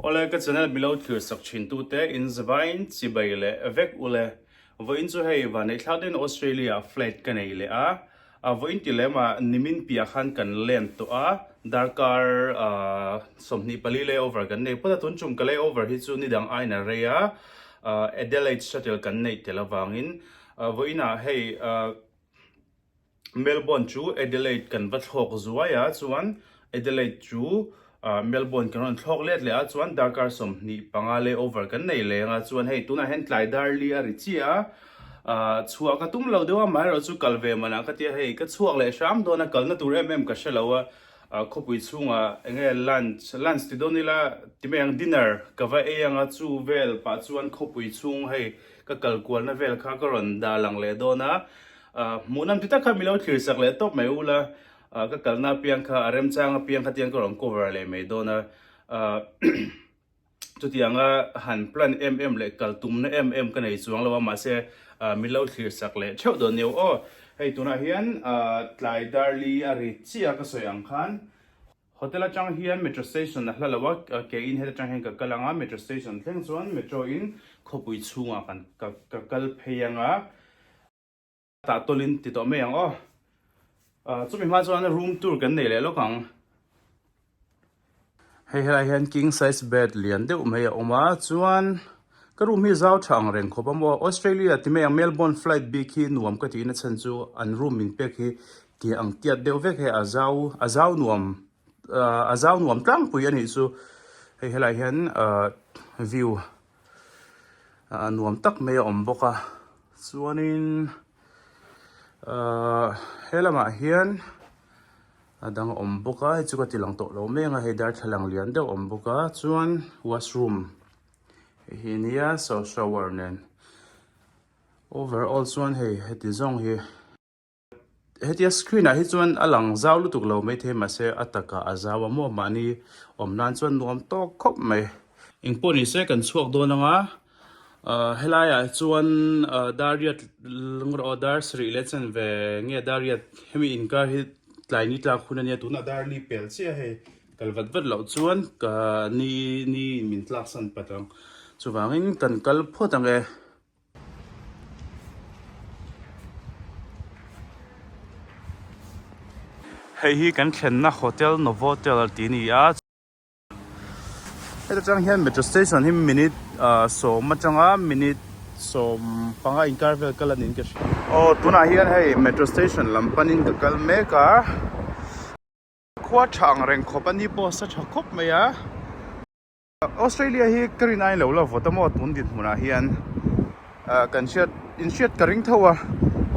Awle ka channel milo thlir sak thin tu te in zavaiin chi bai leh vek ule. Vawiin chu hei vanei thlak deuhin Australia ah flat ka nei leh a. A vawiin ti lem a nimin piah khan kan lend tawh a darkar sawmhnih pali lay over kan nei phut a tun chung ka lay over hi chu ni dang ain a rei a Adelaide shuttle kan neih tel avangin vawiin ah hei Melbourne chu Adelaide kan va thlawk zuai a chuan Adelaide chu Melbourne kan rawn thlawk let leh a chuan darkar sawmhnih panga lay over kan nei leng a chuan hei tunah hian tlai dar li a ri chiah a ahh chhuah ka tum lo deuh a mah erawh chu kal ve manah ka tia hei ka chhuak leh hram dawn a kalna tur em em ka hre lo a ahh khawpui chhungah eng nge lunch lunch ti dawn ila ti mai ang dinner ka va ei ang a chu vel pah chuan khawpui chhung hei ka kal kualna vel kha ka rawn dah lang leh dawn a Hmuhna an ti tak kha milo thlir sak leh tawp mai ula ka kalna apiang kha a remchang apiang kha tiang ka rawn cover leh mai dawn a chutiang a han plan em em leh kal tumna em em ka nei chuang lo a mahse milo thlir sak leh theuh dawn nio aw hei tunah hian tlai darli a ri chiah a ka sawi ang khan Hotel atang hian Metro Station a hla lo a, ke in heta tang hian ka kal ang a, Metro Station thleng chuan Metro in khawpui chhungah kan ka ka kal phei ang a, tah tawlhin ti tawh mai ang aw, ah chumi hma chuan room tour kan nei leh lawk ang. Hei helai hian king size bed lian deuh mai a awm a, chuan ka room hi zau tha ang reng khawp a maw, Australia ti mai ang Melbourne flight bik hi nuam ka ti in a chhan chu an room min pack hi Tih ang tiat deuh vek he a zau a zau nuam ahh a zau nuam tlangpui a nih chu. Hei helaiah hian ahh view ahh nuam tak mai a awm bawk a. Chuanin ahh he lamah hian a dang a awm bawk a, hei chu ka ti lang tawh lo meng a, hei darthlalang lian deuh a awm bawk a. Chuan washroom hei hi a nia so shower nen. Overall chuan hei heti zawng hi. Hetia screen ah hi chuan a lang zau lutuk lo maithei mahse a taka a zau a maw mahni awm nan chuan nuam tawk khawp mai. Eng pawh ni se kan chhuak dawn anga ahh helai ah chuan ahh Dariat eng rawh Dar Sri leh chen ve nge Dariat hemi inkar hi tlai ni tlak hun ania tunah Dar li pel chiah hei kal vat vat loh chuan ka ni ni min tlaksan pat ang chuvangin kan kal phawt ange. Hei hi kan thlenna hotel Novotel ti a ni a, heta chang hian metro station hi minute sawm atanga minute sawm panga inkar vel kal anin ka hria. Aw tunah hian hei metro station lam panin ka kal mek a, khua tha ang reng khawp ani pawh a sa tha khawp mai a. Australia hi ka rin ain lo la vawt a maw tun dinhmun ah hian kan hriat in hriat ka ring tho a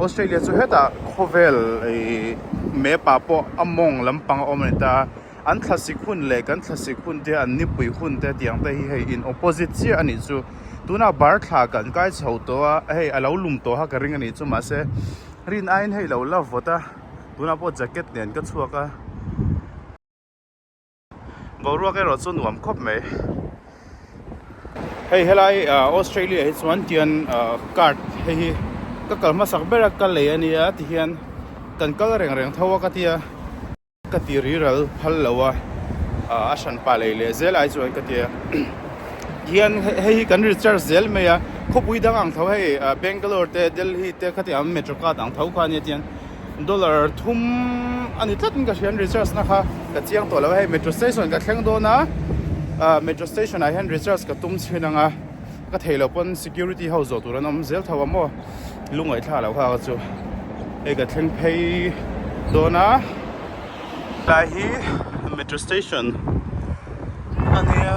Australia chu heta khawvel map ah pawh a mawng lampang a awm a ni ta an thlasik hun leh kan thlasik hun te an nipui hun te tiang te hi hei in opposite chiah a nih chu tuna bar thla kan kai chho tawh a hei a lo lum tawh ha ka ring a nih chu mahse rin ain hei lo la vawt a tuna pawh jacket nen ka chhuak a Boruak erawh chu nuam khawp mai. Hei helai Australia hi chuan tian card hei hi ka kal hmasak ber a ka lei ania ti hian kan kal reng reng tho a ka tia ka ti riral phal lo a a hran pah lei leh zel ai chuan ka tia hian hei hi kan recharge zel mai a khawpui dang ang tho hei Bangalore te Delhi te khatiang metrocard ang tho kha ania tian Dollar thum a ni tlat in ka hrian recharge na kha ka chiang tawh lo a hei metro station ka thleng dawn a ahh metro station ah hian recharge ka tum chhin ang a ka thei lo pawn security ho zawh tur an awm zel tho ang maw lungaih thla lo hak a chu hei ka thleng phei dawn a tlai hi metro station a nia.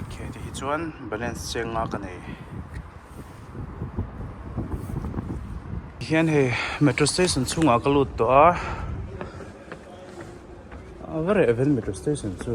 okay te hi chuan balance cheng nga ka nei hian hei metro station chhungah ka lut tawh a ava reh vel metro station chu.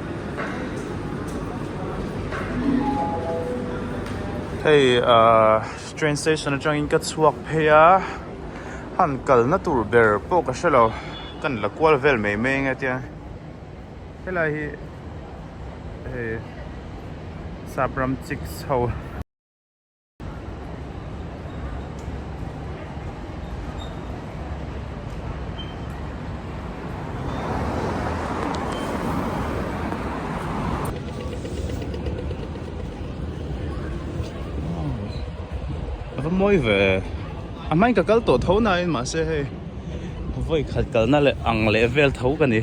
Hei ahh train station atangin ka chhuak phei a, han kalna tur ber pawh ka hrelo, ka la kual vel mai mai anga tia helai hi hei sapram chik chho. Aka mawi ve A hmain ka kal tawh tho nain mahse hei vawi khat kalna leh ang leh vel tho ka ni.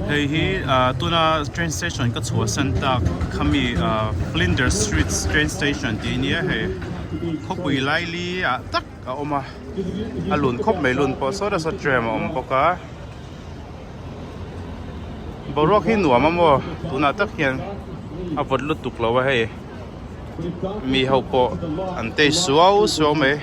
hei hi ah, tuna train station ka chhuah san tak khami ah, Flinders Street train station tih nia hei khawpui lai li a ah, tak a awm a a lun khawp mai lun pawh sawta saw tram a awm bawk a boruak hi nuam a maw tunah tak hian a vawt lutuk lo a hei mi ho pawh an tei suau suau mai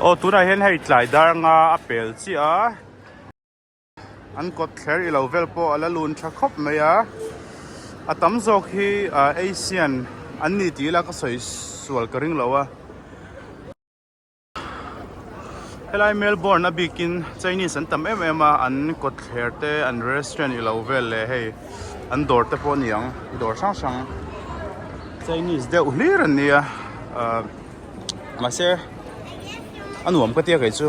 aw tunah hian hei tlai dar anga a pel chiah a. An kawt thler i lo vel pawh a la lun tha khawp mai a, a tam zawk hi Asian an ni tih ila ka sawi sual ka ring lo a. Helai Melbourne a bikin Chinese an tam em em a, an kawt thler te an restaurant i lo vel leh hei an dawr te pawh niang dawr hrang hrang Chinese deuh hlir an nia. mahse a nuam ka tia keichu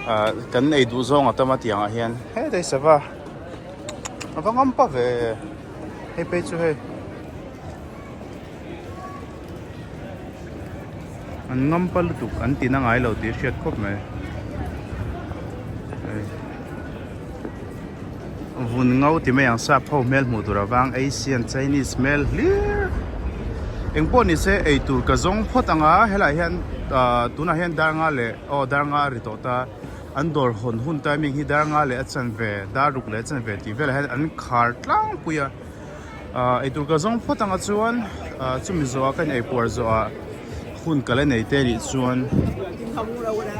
ah kan ei duh zawng atam atiang ah hian hetei sava ava ngam pah ve hei phei chu hei an ngam pah lutuk an tina ngailo tih a hriat khawp mai. Vun ngo ti mai ang sap ho hmel hmuh tur avang Asian Chinese hmel hlir engpawh nise eitur ka zawng phawt ang a helaiah hian ahh tunah hian dar nga leh aw dar nga a ri tawh ta an dawr hawn hun timing hi dar nga leh a chanve dar ruk leh a chanve tih velah hian an khar tlangpui a. Ahh eitur ka zawng phawt anga chuan ahh chumi zawha ka inei puar zawha hun ka la nei te rih chuan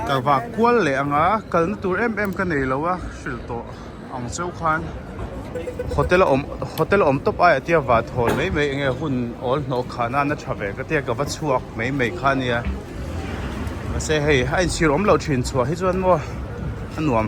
ka vak kual leh anga kalna tur em em ka nei lo a hrilh tawh ang cheu khan hotel a awm hotel a awm tawp aia tia va thawl mai mai enge hun awl hnawh khan a na tha ve ka tia ka va chhuak mai mai kha nia mahse hei a inchhir awm lo thin chhuah hi chuan maw a nuam.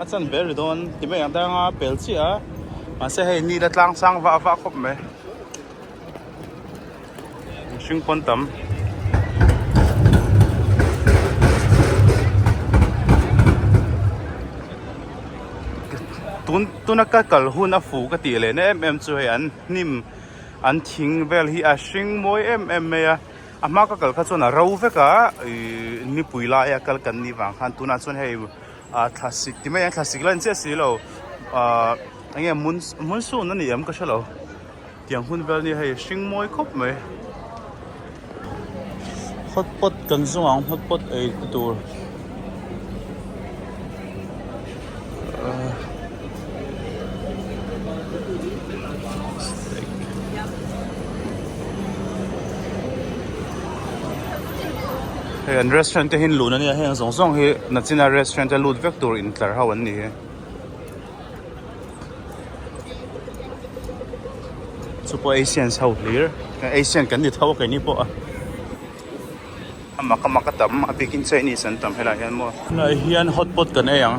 a chan ber ri dawn ti mai ang ta anga pel chiah a mahse hei nila tlang sang va va khawp mai mihring pawn tam tun tuna ka kal hun a fuh ka tih lehna em em chu hei an hnim an thing vel hi a hring mawi em em mai a a hma ka kal kha chuan a ro vek a ih nipui laia kal kan nih vang khan tunah chuan hei-- ah thlasik ti mai ang thlasik line chiah si lo ah enge hmun hmun sun a ni ang ka hre lo tiang hun vel nia hei hring mawi khawp mai hotpot kan zawng ang hotpot ei te tur ah. hei an restaurant te hi an luhna nia hei ang zawng zawng hi nachina restaurant a lut vek tur in tlar ho an ni e chu pawh asians ho hlir asian kan ni tho a kei ni pawh a. a mak a mak a tam a bikin chinese an tam helai hian maw tunah hian hot pot kan ei ang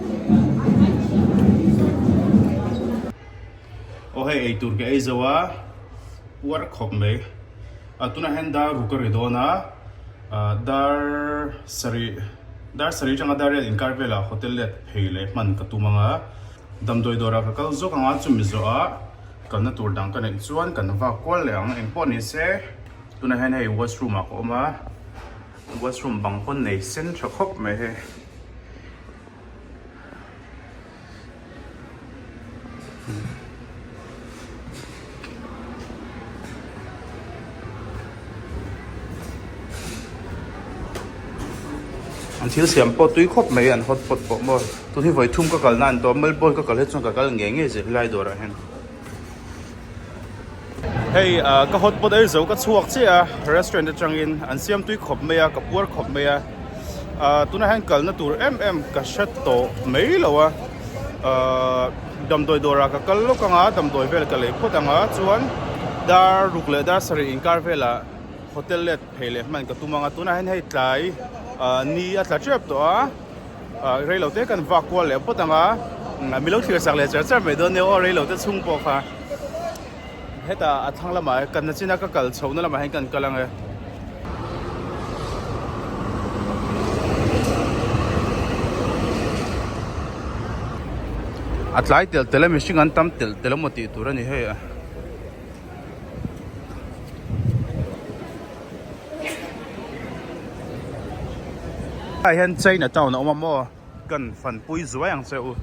Aw hei eitur ka ei zo a, uar khawp mai. A tunah hian dar ru ka ri dawn a, dar sarih dar sarih atanga dar riat inkar velah hotel let phei leh hman ka tum ang a. Damdawi dawrah ka kal zawk ang a, chumi zawhah kalna tur dang ka neih chuan kan vak kual leh ang. Engpawh ni se tunah hian hei washroom ah ka awm a. Washroom bang pawn nei sen tha khawp mai hei. An thil siam pawh tui khawp mai an hot pot pawh maw. Tun hi vawithum ka kalna a ni tawh a, Melbourne ka kal hi chuan ka kal ngei ngei zir helai dawrah hian. Hei ka hot pot ei zo ka chhuak chiah a restaurant atangin an siam tui khawp mai a ka puar khawp mai a tunah hian kalna tur em em ka hre tawh mai lo a damdawi dawrah ka kal lawk anga damdawi vel ka lei phawt anga chuan dar ruk leh dar sarih inkar velah hotel let phei leh hman ka tum anga tunah hian hei tlai ni a tla tep tawh a. Rei lo te kan vak kual leh pawt ang a, mi lo thlir sak leh char char mai dawn nia aw, rei lo te chhung pawh kha heta a thlang lamah e, kanna china ka kal chhoh na lamah hian kan kal ang e. A tlai telh telh a mihring an tam telh telh a maw tih tur a ni hei a. Tunah hian China town a awm a maw kan fanpui zuai ang che u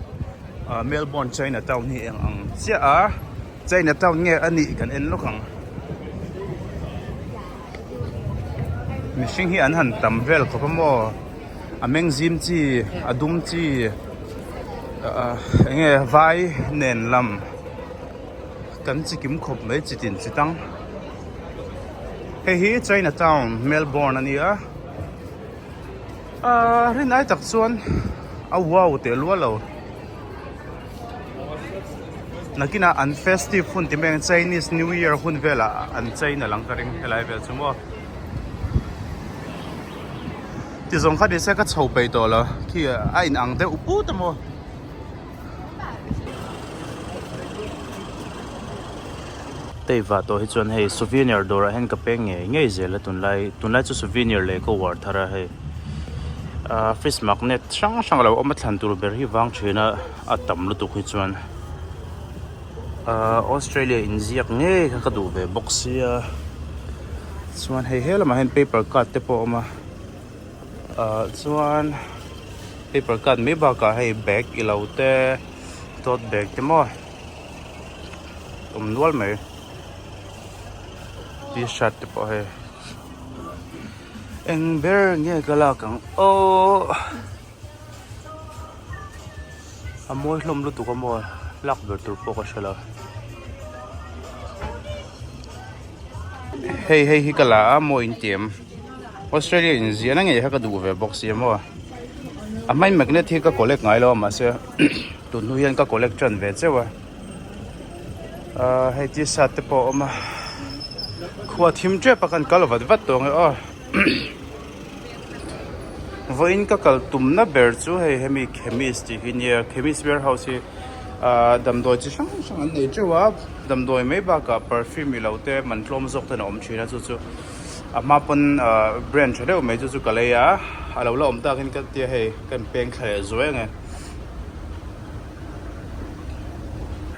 ah Melbourne China town hi eng ang chiah a China town nge a nih kan en lawk ang mihring hi an han tam vel khawp a maw a meng zim chi a dum chi ah eng nge vai nen lam kan chi kim khawp mai chi tin chi tang. Hei hi China town Melbourne a ni a, aaa rin ai tak chuan a wow teh lual lo, nakinah an festive hun tih mai ang Chinese New Year hun velah an chain alang ka ring helai vel chu maw, ti zawng kha nise ka chho peih tawh lo khi a inang deuh put a maw. Teivah tawh hi chuan hei souvenir dawrah hian ka peng ngei ngei zel a tunlai tunlai chu souvenir leh ka uar thar a hei ah fridge magnet hrang hrang lo awm a thlan tur ber hi vang thin a a tam lutuk hi chuan ah australia in ziak ngei kha ka duh ve bawk sia chuan hei he lamah hian paper cut te pawh a awm a. chuan paper cut mai bakah hei bag ilo te tote bag te maw awm nual mai tshirt te pawh hei eng ber nge ka lak ang aww a mawi hlawm lutuk a maw lak ber tur pawh ka hre lo hei hei hi ka la a mawiin tih em. Australia in ziah na ngei kha ka duh ve bawk si emaw a hmai magnet hi ka collect ngai lo a mah se tun hnu hian ka collect tan ve cheu a hei t shirt te pawh a awm a khua thim tep a khan kal vat vat tawh ang e aw vawi in ka kal tum na ber chu hei hemi chemist tih hi nia chemist warehouse hi ah damdawi chi hrang hrang an nei teuh a damdawi mai bakah perfume ilo te man tlawm zawk ten a awm thin a chu chu. a hma pawn brand tha deuh mai chu chu ka lei a a lo la awm tak in ka tia hei ka in peng thla leh zuai ang e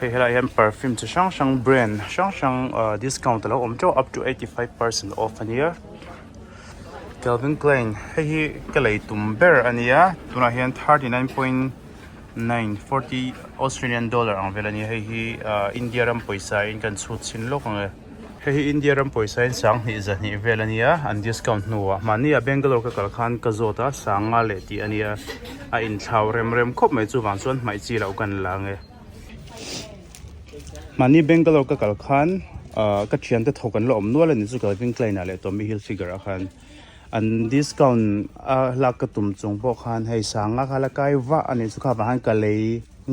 hei helai ah hian perfume chi hrang hrang brand hrang hrang ah discount a lo awm teuh up to eighty five percent off a nia Calvin Klein hei hi ka lei tum ber a nia tunah hian thirty nine point nine forty Australian dollar ang vel a nia hei hi ah India ram pawisa in ka in chhut chhin lawk ang e. Hei hi India ram pawisa in sang hnih za hnih vel a nia, an discount hnu a. Mahni a Bangalore ka kal khan ka zawt a, sang nga leh tih a nia. A inthlau rem rem khawp mai, chuvang chuan hmaih chi loh ka ni la ang e. Mahni Bangalore ka kal khan ka thian te tho kan la awm nual a ni, chu Calvin Klein ah leh Tommy Hilfiger ah khan an discount a lak ka tum chung pawh khan hei sang nga kha la kai vah a nih chu kha vang khan ka lei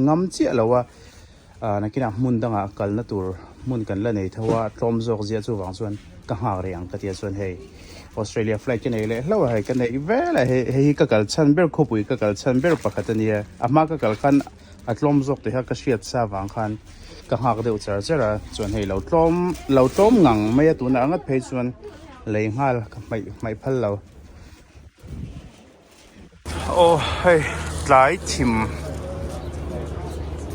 ngam chiah lo a. A nakinah hmun dangah kalna tur hmun kan la nei tho a, tlawm zawk zia chuvang chuan ka nghak rih ang ka tia chuan hei Australia flight ka nei leh hlauh a, hei ka neih vel a, hei hi ka kal chhan ber khawpui ka kal chhan ber pakhat a nia, a hma ka kal khan a tlawm zawk teh kha ka hriat sa vang khan ka nghak deuh char char a, chuan hei lo tlawm lo tlawm ngang mai a tunah a ngat phei chuan lei nghal ka hmaih hmaih phal lo. Aw hei tlai thim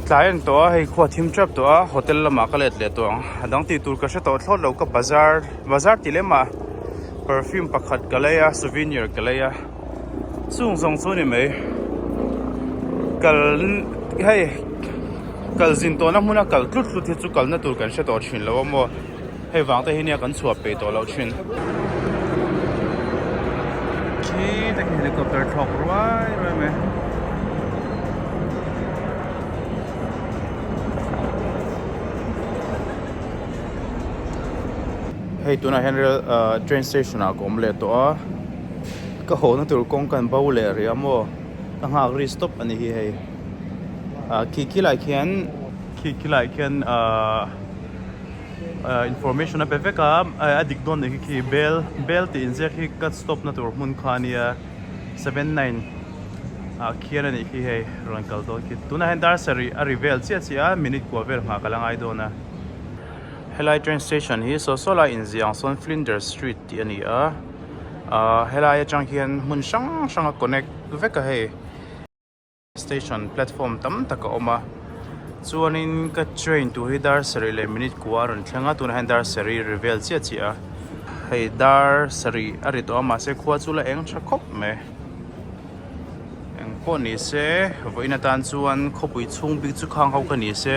tlai ang tawh a hei khua thim tap tawh a hotel lamah ka let leh tawh ang a dang ti tur ka hre tawh thlawt lo ka bazar bazar tih lem a perfume pakhat ka lei a souvenir ka lei a chung zawng chu ni mai kal hei kal zin tawh na hmun a kal tlut tlut hi chu kal na tur kan hre tawh thin lo a maw Hei vang te hi nia kan chhuah pei tawh loh thin. Khi te khi helicopter thlawk ruai ruai mai. Hei tuna hian rail train station ah ka awm leh tawh a. Ka hawhna tur kawng kan bo leh rih a maw. Ka nghak ri stop a ni hi hei. Khi khilai khian. khi khi lah khian ahh ahh information a pe vek a ehh a dik dawn leh khi khi bel bel tih inziak khi ka stop na tur hmun kha ania seven nine ah khian a nih khi hei rawn kal dawn khi tunah hian dar sarih a ri vel chiah chiah a minute kua vel nghah ka la ngai dawn a helai train station hi saw saw lai inziak ang sawn flinders street tih a ni a ahh helai atang hian hmun hrang hrang a connect vek a hei. Station platform tam tak a awm a chuanin ka train tur hi dar sarih leh minute kua a rawn thleng a tunah hian dar sarih ri vel chiah chiah a hei dar sarih a ri tawh a mahse khua chu la eng tha khawp mai engpawh ni se vawiin atan chuan khawpui chhung bik chu khang ho ka ni se.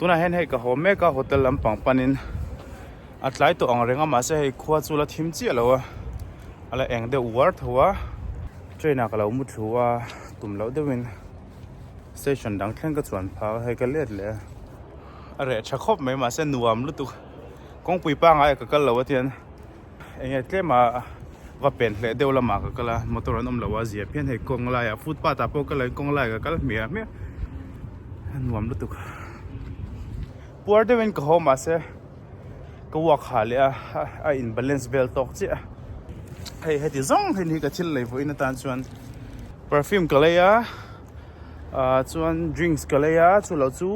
tunah hian hei ka haw mek a hotel lampang panin a tlai tawh ang reng a mahse hei khua chu la thim chiah lo a a la eng deuh uar tho a train ah ka lo mu thlu a tum loh deuh in station dang thleng ka chuan phak a hei ka let leh a a reh tha khawp mai mahse nuam lutuk kawngpui pangai ka kal lo atian. Enge tlem a va pen hle deuh lama ka kala motor an awm lo a zia phian hei kawng laia footpath ah pawh ka la kawng laia ka kal hmiah hmiah a nuam lutuk puar deuhin ka haw mahse ka uak ha leh a a in balance vel tawk chiah hei heti zawng hi ka thil lei vuahin atan chuan perfume ka lei a a chuan drinks ka lei a chu lo chu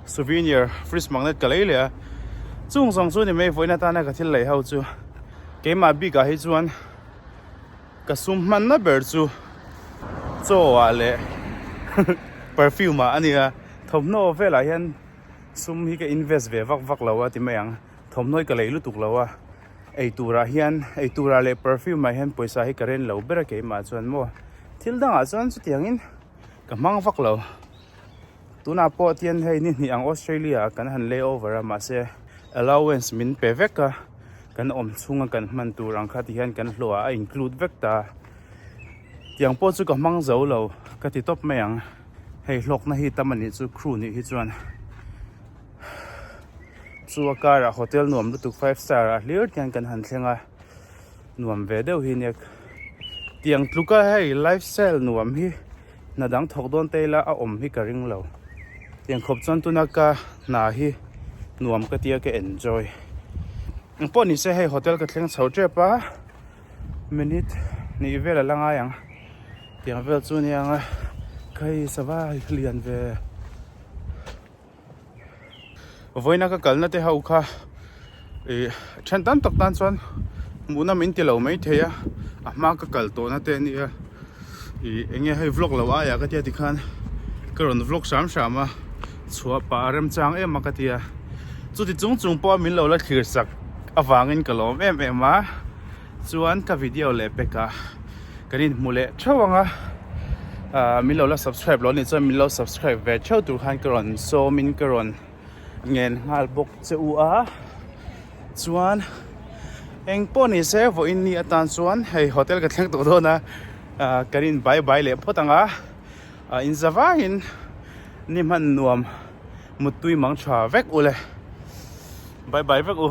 souvenir fridge magnet ka lei leh a chung zawng chu ni mai vawiin atana ka thil lei ho chu keimah bik ah hi chuan ka sum hman na ber chu chaw ah leh perfume ah a ni a thawmhnaw vel ah hian sum hi ka invest ve vak vak lo a ti mai ang thawmhnaw hi ka lei lutuk lo a Eiturah hian, eiturah leh perfume-ah hian pawisa hi ka ren lo ber a keimah chuan maw? Thil dangah chuan chutiangin ka hmang vak lo. Tunah pawh tian hei ni hnih ang Australia-ah kan han lay over a, mahse allowance min pe vek a, kan awm chhunga kan hman tur ang kha ti hian kan hlawha a include vek ta. Tiang pawh chu ka hmang zo lo ka ti tawp mai ang. Hei hlawkna hi tam a nih chu crew nih hi chuan. chu a karah hotel nuam lutuk five star ah hlir tiang in kan han thleng a nuam ve deuh hi nia tiang tluka hei life style nuam hi hna dang thawk dawn ta ila a awm hi ka ring lo tiang khawp chuan tuna ka hna hi nuam ka tia ka enjoy ang pawh ni se hei hotel ka thleng chho tep a minute hnih vel a la ngai ang tiang vel chu nia nga khai sava lian ve vawiina ka kalna te ho kha i then tam tak tan chuan hmuhna min ti lo mai thei a a hma ka kal tawhna te a ni a i enge hei vlog lo aiah ka tia ti khan ka rawn vlog hram hram a chhuah pah a remchang em a ka tia chuti chung chung pawh a min lo la thlir sak avangin ka lawm em em a Chuan ka video leh pek ah kan in hmu leh theuh ang a, min lo la subscribe lo ni chuan min lo subscribe ve theuh tur khan ka rawn sawm in ka rawn ngen nghal bawk che u a, chuan eng pawh ni se vaw in ni atan chuan hei hotel ka thleng tawh dawn a, kan in bye bye leh phawt ang a, in za vai in ni hman nuam muttui mang tha vek u le, bye bye vek u.